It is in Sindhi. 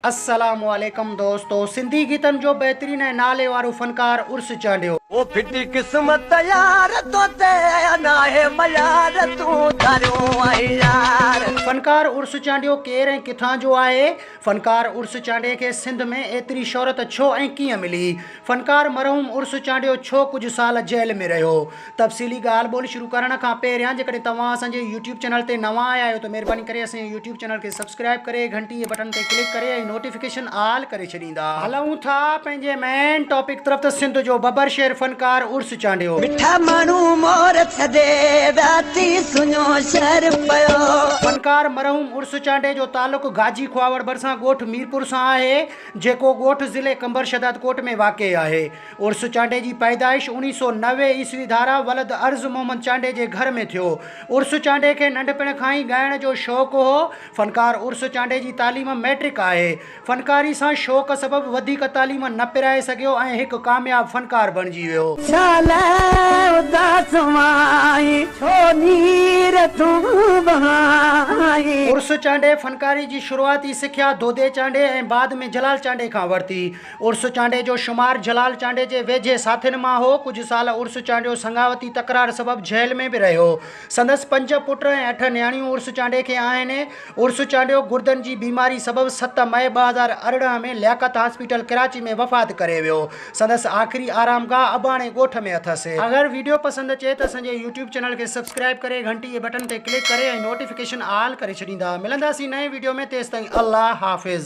السلام عليڪم دوستو سنڌي گيتن جو بهترين ۽ نالي وارو فنڪار عرس چانڊيو. او ڦٽي قسمت يار تو تي ناهي ميار تون ڌاريو آهين يار. فنڪار عرس چانڊيو ڪير ۽ ڪٿان جو آهي؟ فنڪار عرس چانڊي کي سنڌ ۾ ايتري شهرت ڇو ۽ ڪيئن ملي؟ فنڪار مرحوم عرس چانڊيو ڇو ڪجهه سال جيل ۾ رهيو؟ تفصيلي ڳالهه ٻولهه شروع ڪرڻ کان پهريان جيڪڏهن توهان اسان جي يوٽيوب چينل تي نوان آيا آهيو ته مهرباني ڪري اسان جي يوٽيوب چينل کي سبسڪرائيب ڪري گهنٽي جي بٽڻ تي ڪلڪ ڪري ۽ نوٽيفڪيشن آل ڪري ڇڏيندا. هلون ٿا پنهنجي مين ٽاپڪ طرف ته سنڌ جو ببر شير فنڪار عرس چانڊيو. مٺا ماڻهو مور ٿڌي ويا ٿي سڃو شهر پيو. فنڪار مرحوم عرس چانڊي جو تعلق گاجي کهاوڙ ڀرسان ڳوٺ ميرپور سان آهي جيڪو ڳوٺ ضلعي قمبر شهدادڪوٽ ۾ واقع آهي. عرس چانڊئي جي پيدائش اوڻيهه سؤ نوي عيسوي ڌاران ولد عرض محمد چانڊئي جي گهر ۾ ٿيو. عرس چانڊئي کي ننڍپڻ کان ئي ڳائڻ جو شوق هو. فنڪار عرس چانڊئي جي تعليم مئٽرڪ آهي. فنڪاري سان شوق سبب وڌيڪ تعليم نه پرائي سگهيو ۽ هڪ ڪامياب فنڪار بڻجي ويو. شال اداس وائين ڇو نير تون وهائين. عرس چانڊئي فنڪاري جي شروعاتي سکيا دودي چانڊئي ۽ بعد ۾ جلال چانڊئي کان ورتي. عرس چانڊيي جو شمار جلال چانڊيي جي ويجهي ساٿين مان هو. ڪجهه سال عرس چانڊيو سڱاوتي تڪرار سبب جيل ۾ به رهيو. سندس پنج پٽ ۽ اٺ نياڻيون عرس چانڊيي کي آهن. عرس چانڊيو گردن جي بيماري سبب ست مئي ٻه هزار ارڙهن ۾ لياقت هاسپيٽل ڪراچي ۾ وفات ڪري ويو. سندس آخري آرامگاهه اباڻي ڳوٺ ۾ اٿس. اگر ويڊيو پسند اچي ته اسان جي يوٽيوب چينل کي سبسڪرائيب ڪري گهنٽي جي بٽن تي ڪلڪ ڪري ۽ نوٽيفڪيشن آل ڪري ڇڏيندا. ملنداسين نئين ويڊيو ۾ تيستائين الله حافظ.